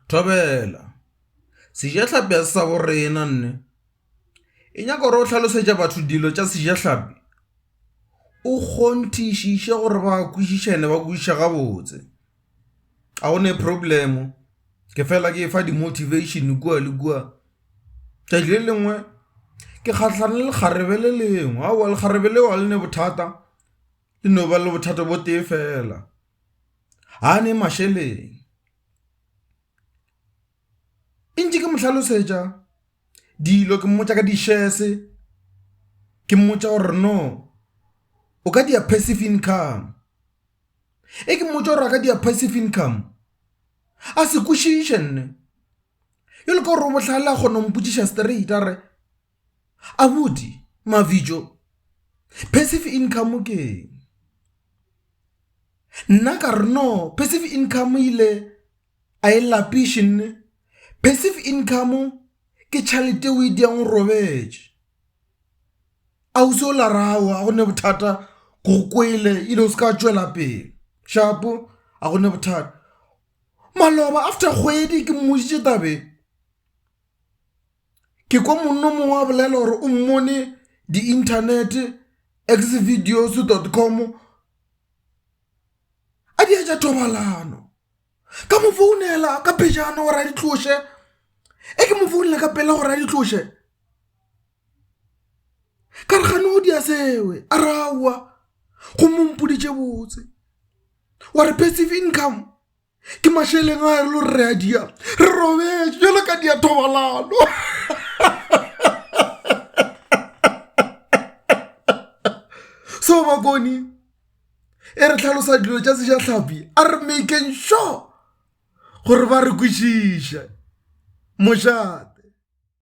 Thobela, Sejahlapi ga se sa bo rena nne. E nyaka gore o hlalosetša batho dilo tša sejahlapi, o kgonthišiše gore ba kwešiše and-e ba kwešiše gabotse. Ga go ne problem, ke fela ke efa di-motivation kua le kua. Tšatši le lengwe ke kgahlano le lekgarebe le lengwe, aowa lekgarebe leo ga le ne bothata, le no ba le bothata bo tee fela. ga a ne mašeleng. E ntše ke mo hlalosetša dilo ke mmotša ka di-shares ke mmotša gore no o ka dia passive income, e ke mmotša gore a ka dia passive income a se kwešiše nne bjale ka gore o bohlale a kgona go mpotšiša straight a re, Abuti, Mabitso, passive income ke eng? Nna ka re no, passive income ile a e lapiše nne. Passive income ke tšhalete o e diang o robetše. Ausi o la re aowa ga go ne bothata ke go kwele ile o se ka tšwela pele, shapo ga go ne bothata. Maloba after kgwedi ke mmoditše taba e. Ke kwa monna o mongwe a bolela gore o mmone di-internet X-videos dot com a di etša thobalano. Ka mo founela ka pejana gore a di tloše, e ke mo founela ka pela gore a di tloše ka re gane o di a sewe a re aowa gomme o mpoditše botse wa re passive income. ke mašeleng a re lo re a dia re robetše jalo ka dia thobalano so bakoni e re tlhalosa dilo tša seja tlhapi a re makeng sure gore ba re kwešiše mošate